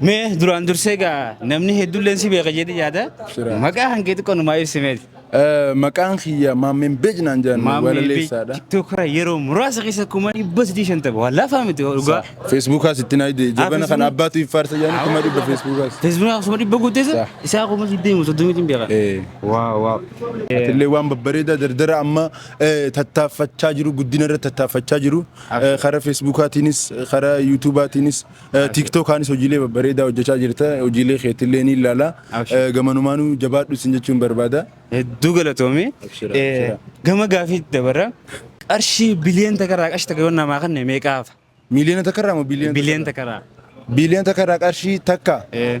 Mee duraan dursee egaa namni hedduulleen si beeka jedhee yaada. Sira. Maqaa hangee xiqqoo numaa ibsimeeti. Eh, Maqaan kiyya Maammeen Beej naan jedhan walaleessaadha. Tiktokira yeroo muraasa keessa kuma dhibba sadii shantama. Waa laafaa miti dhugaa. Feesbuukaas itti naa ide jabana kan Facebook. abbaatu iffaarsa jedhanii kuma dhibba feesbuukaas. Feesbuukaa akkasuma dhibba guuteessa Sa. isaa kuma digdamii soddomiitiin beeka. Eh, Waa waa. Atillee waan babbareedaa dardara amma eh, tattaaffachaa jiru guddina irra tattaaffachaa jiru Eh, karaa feesbuukaatiinis karaa yuutuubaatiinis Tiktok kaanis hojiilee babbareedaa hojjechaa jirta. Hojiilee keetillee ni ilaala. Abshir. Gamanumaanuu jabaadhu isin jechuun barbaada. Hedduu galatoomi. Abshira, Eh, abshira. Gama gaafiitti dabarra. Qarshii biliyoon takarraa qarshii takka yoo namaa kanne meeqaafa? Miiliyoona takkarraa moo biliyoona? Biliyoon takarraa. Biliyoona takkarraa qarshii takka. Eh,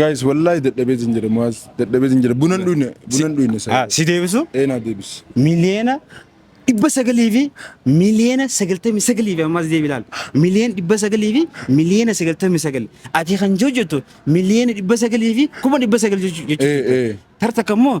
Guys wallahi dadhabee sin jedhe muaz dadhabee sin jedhe bunan dhuyne bunan dhuyne sa. Si deebisu? Ee naa deebis. Miliyeena dhibba sagalii fi miliyeena sagaltamii sagalii fi ammas deebi ilaali. Miliyeena dhibba sagalii fi miliyeena sagaltamii sagal. Ati kan hojjettu miliyeena dhibba sagalii fi kuma dhibba sagal jechuudha. Ee ee. Tarta kammoo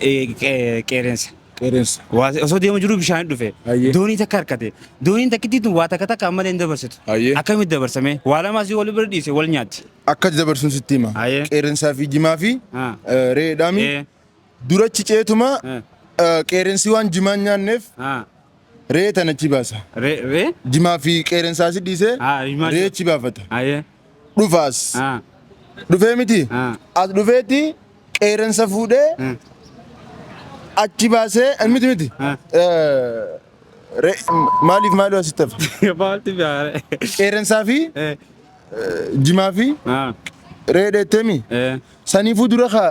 eh, qe- qeerrensa. Qeerrensa. Waa- Osoo deemu jiru bishaan dhufe. Hayyee. Doonii takka harkate. Dooniin takkittii tun waa takka takka ammallee hin dabarsitu. Hayyee. Akkamitti dabarsame? Waa lama asii wal bira dhiise wal nyaatti. Akka dabarsuun sitti hima. Hayyee. Qeerrensaa fi jimaa fi Ah. eh, re'eedhaami. Eh, Durachi ceetuma eh, eh, qeerrensi waan jimaa hin nyaanneef ah. Ree tan achi baasa. Re re. Jimaa fi qeerensaa si dhiisee Ah himaa. ree achi baafata. Aye. Dhufaas. Ah. Dhufee miti. Ah. As dhufeeti qeerensa fuudhee Hmm. achi baasee eh, miti miti. Ah. Eh, Ree maaliif maaloo asitti hafa? Baalti biare. Qeerensaa fi Eh. jimaa fi Ah. ree dheettemi. Eh. Saniifuu dura kaa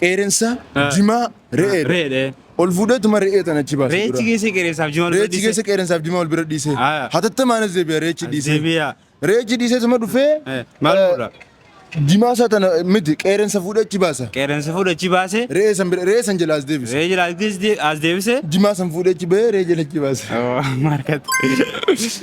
Qeerensa, Ah. jimaa, re'ee. Reedhe. Ol fuudheetuma re'ee tana achi baase. Reechi dura. keessa qeerensaaf jimaa Reechi keessa qeerensaaf jimaa wal bira dhiise. Ah. Hatattamaanis deebi'a reechi dhiise. Deebi'a. Reechi dhiiseetuma dhufee. Eh, maal eh, fuudha? Jimaa isaa tana miti qeerensa fuudhee achi baasa. Qeerensa fuudha achi baase. Re'ee san bira re'ee san jala as deebise. Reechi laattis as deebise. Jimaa san fuudhee achi bahee re'ee jala achi baase. Markat.